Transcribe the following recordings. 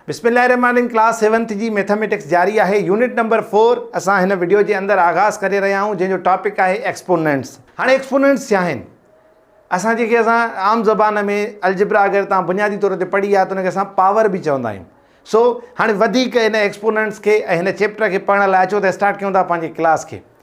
بسم الله الرحمن الرحيم ڪلاس سيونٿ جي ميٿاميٽڪس جاري آهي يونٽ نمبر فور اسان هن وڊيو جي اندر آغاز ڪري رهيا آهيون جنهن جو ٽاپڪ آهي ايڪسپوننٽس هاڻي ايڪسپوننٽس ڇا آهن اسان جيڪي اسان عام زبان ۾ الجبرا اگر تان بنيادي طور تي پڙهي آ ته ان کي اسان پاور به چوندا آهيون سو هاڻي وڌيڪ ان ايڪسپوننٽس کي ۽ هن چيپٽر کي پڙهڻ لاء اچو ته اسٽارٽ ڪيون ٿا پنهنجي ڪلاس کي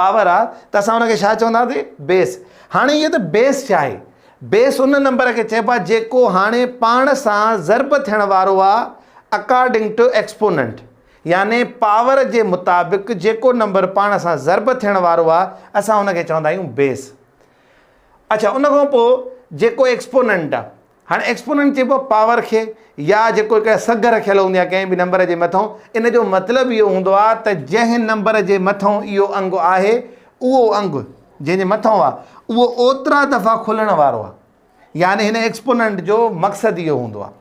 پاور آ ته اسان ان کي ڇا چونداسين بيس هاڻي هيء ته بيس ڇا آهي بيس ان نمبر کي چئبو آهي جيڪو هاڻي پاڻ سان ضرب ٿيڻ وارو آ اڪارڊنگ ٽو ايڪسپوننٽ يعني پاور جي مطابق جيڪو نمبر پاڻ سان ضرب ٿيڻ وارو آ اسان ان کي چوندا آهيون بيس اڇا ان کان پوء جيڪو ايڪسپوننٽ آ هاڻي ايڪسپوننٽ چئبو آهي پاور کي يا جيڪو هڪ سگهه رکيل هوندي آهي ڪنهن به نمبر جي مٿئون ان جو مطلب اهو هوندو آهي ته جنهن نمبر جي مٿئون اهو انگ آهي اهو انگ جنهن جي مٿئون آهي اهو اوترا دفعا کلڻ وارو آهي يعني هن ايڪسپوننٽ جو مقصد اهو هوندو آهي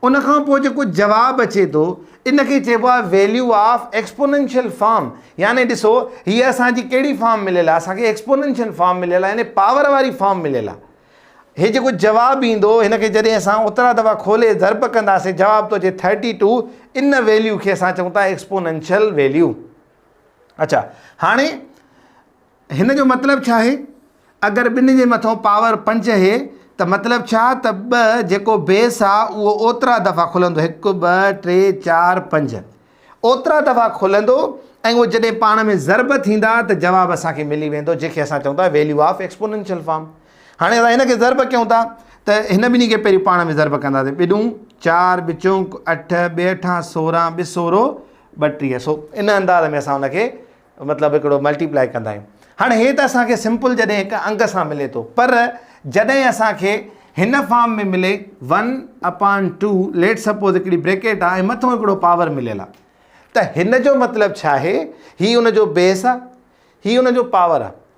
ان کان پوء جيڪو جواب اچي ٿو ان کي چئبو آهي ويليو آف ايڪسپوننشل فارم يعني ڏسو هي اسان جي ڪهڙي فارم مليل آهي اسان کي ايڪسپوننشل فارم مليل آهي يعني پاور واري فارم مليل آهي هي جيڪو جواب ايندو هن کي جڏهن اسان اوترا دفعا کولي ضرب ڪنداسين جواب تو اچي ٿرٽي ٽو ان ويليو کي اسان چئون ٿا ايڪسپوننشل ويليو اچا هاڻي هن جو مطلب ڇا آهي اگر ٻن جي مٿو پاور پنج هي ته مطلب ڇا ته ٻه جيڪو بيس آهي اهو اوترا دفعا کلندو هڪ ٻه ٽي چار پنج اوترا دفعا کلندو ۽ اهي جڏهن پاڻ ۾ ضرب ٿيندا ته جواب اسان کي ملي ويندو جنهن کي اسان چئون ٿا ويليو آف ايڪسپونينشل فارم هاڻي اسان هن کي ضرب ڪيون ٿا ته هن ٻنهي کي پهريون پاڻ ۾ ضرب ڪنداسين ٻڏون چار ٻه چونڪ اٺ ٻه اٺان سورهن ٻه سورو ٻه ٽيهه سو ان انداز ۾ اسان ان کي مطلب هڪڙو ملٽيپلائي ڪندا آهيون هاڻي هي ته اسان کي سمپل جڏهن هڪ انگ سان ملي ٿو پر جڏهن اسان کي هن فارم ۾ ملي one upon two let suppose هڪڙي بريڪيٽ آهي ۽ مٿو هڪڙو پاور مليل آهي ته هن جو مطلب ڇا آهي هي ان جو بيس آهي هي ان جو پاور آهي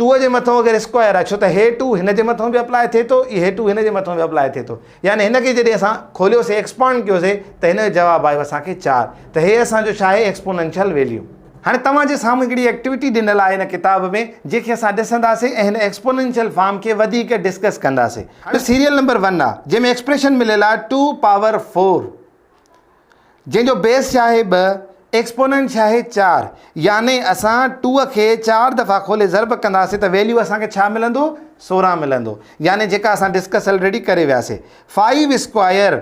ٽو جي مٿون اگر اسڪوائر آهي ڇو ته هي ٽو هن جي مٿون به اپلاء ٿئي ٿو هي ٽو هن جي مٿون به اپلاء ٿئي ٿو يعني هن کي جڏهن اسان کوليوسي ايڪسپانڊ ڪيوسي ته هن جو جواب آيو اسان کي چار ته هي اسان جو ڇا آهي ايڪسپوننشل ويليو. هاڻي توهان جي سامهون هڪڙي ايڪٽيوٽي ڏنل آهي هن ڪتاب ۾ جنهن کي اسان ڏسنداسي ۽ هن ايڪسپوننشل فارم کي وڌيڪ ڊسڪس ڪنداسي هاڻي سيريل نمبر ون آهي جنهن ۾ ايڪسپريشن مليل آهي ٽو پاور فور. جنهن جو بيس ڇاهي ٻه، ايڪسپوننٽ ڇاهي چار، يعني اسان ٽو کي چار دفعا کولي ضرب ڪنداسين ته ويليو اسان کي ڇا ملندو؟ سورهن ملندو. يعني جيڪا اسان ڊسڪس الريڊي ڪري وياسي. فائيو اسڪوائر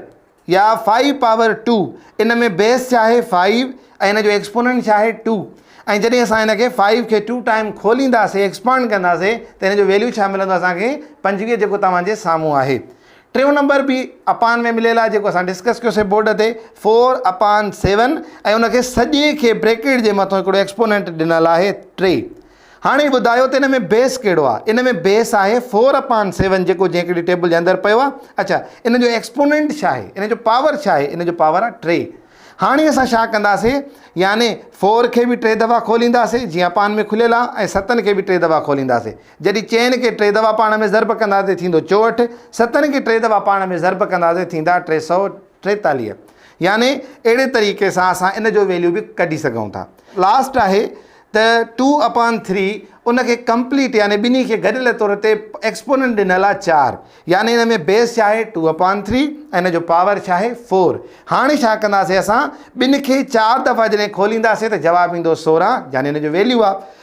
يا فائيو پاور ٽو ان ۾ بيس ڇاهي فائيو ۽ ان جو ايڪسپوننٽ ڇاهي ٽو ۽ جڏهن اسان ان کي فائيو کي ٽو ٽائيم کولينداسين ايڪسپانڊ ڪنداسين ته ان جو ويليو ڇا ملندو اسان کي پنجويهه جيڪو توهان جي سامهون آهي. ٽيون نمبر به اپان ۾ مليل آهي جيڪو اسان ڊسڪس ڪيوسي بورڊ تي فور اپان سيون ۽ ان کي سڄي کي بريڪيٽ جي مٿو هڪڙو ايڪسپوننٽ ڏنل آهي ٽي هاڻي ٻڌايو ته ان ۾ بيس ڪهڙو آهي ان ۾ بيس آهي فور اپان سيون جيڪو جنهن هڪڙي ٽيبل جي اندر پيو آهي اچا ان جو ايڪسپوننٽ ڇا آهي ان جو پاور ڇا آهي ان جو پاور آهي ٽي هاڻي اسان ڇا ڪنداسي يعني فور کي به ٽي دفعا کولينداسي جيئن اپان ۾ کليل آهي ستن کي به ٽي دفعا کولينداسي جڏهن چئن کي ٽي دفعا پاڻ ۾ ضرب ڪنداسين ٿيندو چوهٺ، ستن کي ٽي دفعا پاڻ ۾ ضرب ڪنداسين ٿيندا ٽي سؤ ٽيتاليهه. يعني اهڙي طريقي سان اسان ان جو ويليو به ڪڍي سگهون ٿا. لاسٽ آهي ته ٽو اپان ٿري ان کي ڪمپليٽ يعني ٻنهي کي گڏيل طور تي ايڪسپوننٽ ڏنل آهي چار يعني ان ۾ بيس ڇا آهي ٽو اپان ٿري ۽ ان جو پاور ڇا آهي فور. هاڻي ڇا ڪنداسين اسان ٻن کي چار دفعا جڏهن کولينداسين ته جواب ايندو سورهن يعني ان جو ويليو آهي.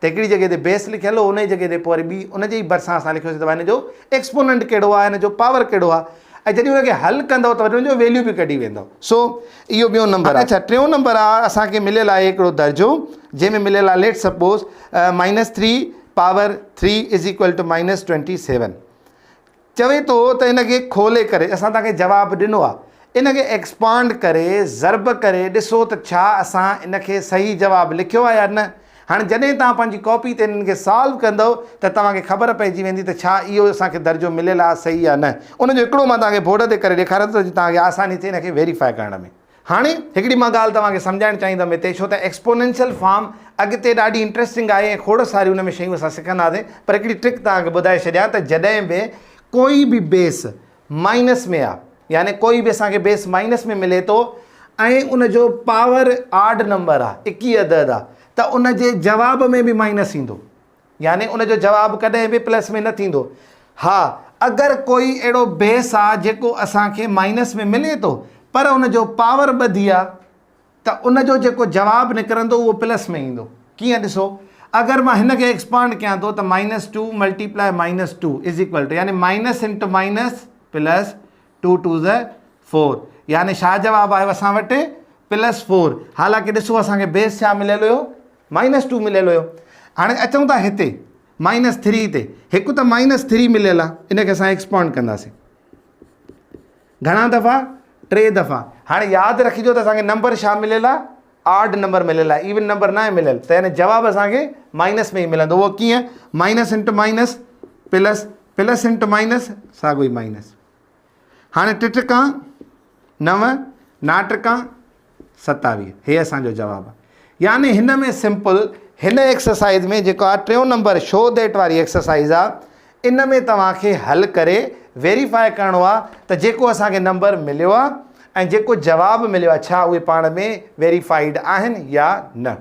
ته هڪڙي جڳهه تي بيس لکيل هو انهي جڳهه تي پوء وري ٻي ان جي ئي ڀرسان اسان لکيوسي ته ڀاء هن جو ايڪسپوننٽ ڪهڙو آهي هن جو پاور ڪهڙو آهي ۽ جڏهن ان کي حل ڪندؤ ته وري ان جو ويليو به ڪڍي ويندؤ سو اهو ٻيون نمبر آهي اڇا ٽيون نمبر آ اسان کي مليل آهي هڪڙو درجو جنهن ۾ مليل آهي let suppose minus three power three is equal to minus twenty seven چوي ٿو ته ان کي کولي ڪري اسان توهان کي جواب ڏنو آهي ان کي ايڪسپانڊ ڪري ضرب ڪري ڏسو ته ڇا اسان ان کي صحيح جواب لکيو آهي يا نه هاڻي جڏهن توهان پنهنجي ڪاپي تي انهن کي سالو ڪندؤ ته توهان کي خبر پئجي ويندي ته ڇا اهو اسان کي درجو مليل آهي صحيح يا نه ان جو هڪڙو مان توهان کي بورڊ تي ڪري ڏيکاريان ٿو ته جي توهان کي آساني ٿئي ان کي ويريفائي ڪرڻ ۾. هاڻي هڪڙي مان ڳالهه توهان کي سمجهائڻ چاهيندم هتي ڇو ته ايڪسپونينشل فارم اڳتي ڏاڍي انٽريسٽنگ آهي ۽ کوڙ ساريون ان ۾ شيون اسان سکنداسين پر هڪڙي ٽرڪ توهان کي ٻڌائي ڇڏيان ته جڏهن به ڪوئي به بيس مائنس ۾ آهي يعني ڪوئي به اسان کي بيس مائنس ۾ ملي ٿو ۽ ان جو پاور آڊ نمبر آهي اڪي عدد آهي ته ان جي جواب ۾ به مائنس ايندو يعني ان جو جواب ڪڏهن به پلس ۾ نه ٿيندو. ها اگر ڪوئي اهڙو بيس آ جيڪو اسان کي مائنس ۾ ملي ٿو پر ان جو پاور ٻڌي آ ته ان جو جيڪو جواب نڪرندو اهو پلس ۾ ايندو. ڪيئن ڏسو اگر مان هن کي ايڪسپانڊ ڪيان ٿو ته minus two multiply minus two is equal to يعني minus into minus plus two two زا فور يعني ڇا جواب آيو اسان وٽ پلس فور حالانڪه ڏسو اسان کي بيس ڇا مليل هيو مائنس ٽو مليل هيو هاڻي اچون ٿا هتي مائنس ٿري تي هڪ ته مائنس ٿري مليل آ ان کي اسان ايڪسپانڊ ڪنداسين گهڻا دفعا ٽي دفعا هاڻي ياد رکجو ته اسانکي نمبر شا مليل آ آرڊ نمبر مليل آ ايون نمبر نه مليل ته هن جواب اسانکي مائنس ۾ ملندو هو ڪيئن minus into minus plus plus into minus ساڳو ئي مائنس هاڻي ٽٽڪا نو، ناٽڪا ستاويهه هي اسان جو جواب آ. يعني هن ۾ سمپل هن ايڪسرسائيز ۾ جيڪو آ ٽيون نمبر شو ديٽ واري ايڪسرسائيز آ ان ۾ توهان کي حل ڪري ويريفائي ڪرڻو آ ته جيڪو اسان کي نمبر مليو آ ۽ جيڪو جواب مليو آ ڇا اهي پاڻ ۾ ويريفائيڊ آهن يا نه.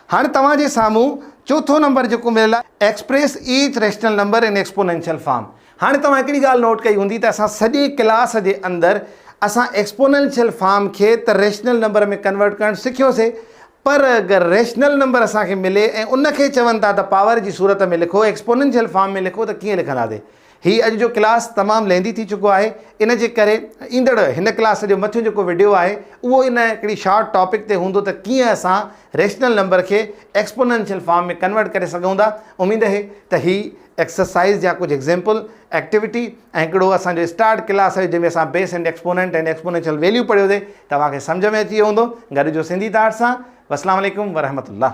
هاڻ توهان جي سامهون چوٿون نمبر جيڪو مليل آهي express each rational number in exponential form. هاڻ توهان هڪڙي ڳالهه نوٽ ڪئي هوندي ته اسان سڄي ڪلاس جي اندر اسان ايڪسپونينشل فارم کي ته ريشنل نمبر ۾ ڪنورٽ ڪرڻ سکيو سي پر اگر ريشنل نمبر اسان کي ملي ۽ ان کي چون ٿا ته پاور جي صورت ۾ لکو ايڪسپونينشل فارم ۾ لکو ته ڪيئن لکنداسين هي اڄ جو ڪلاس تمام لينڌي ٿي چڪو آهي ان جي ڪري ايندڙ هن ڪلاس جو مٿيون جيڪو وڊيو آهي اهو ان هڪڙي شارٽ ٽاپڪ تي هوندو ته ڪيئن اسان ريشنل نمبر کي ايڪسپوننشل فارم ۾ ڪنورٽ ڪري سگهون ٿا اميد اهي ته هي ايڪسرسائز يا ڪجهه ايگزيمپل ايڪٽيوٽي ۽ هڪڙو اسان جو اسٽارٽ ڪلاس هيو جنهن ۾ اسان base and exponent and exponential value پڙهيو سي توهان کي سمجهه ۾ اچي ويو هوندو گڏ جو سنڌي تارڙ سان والسلام عليڪم ورحمة الله.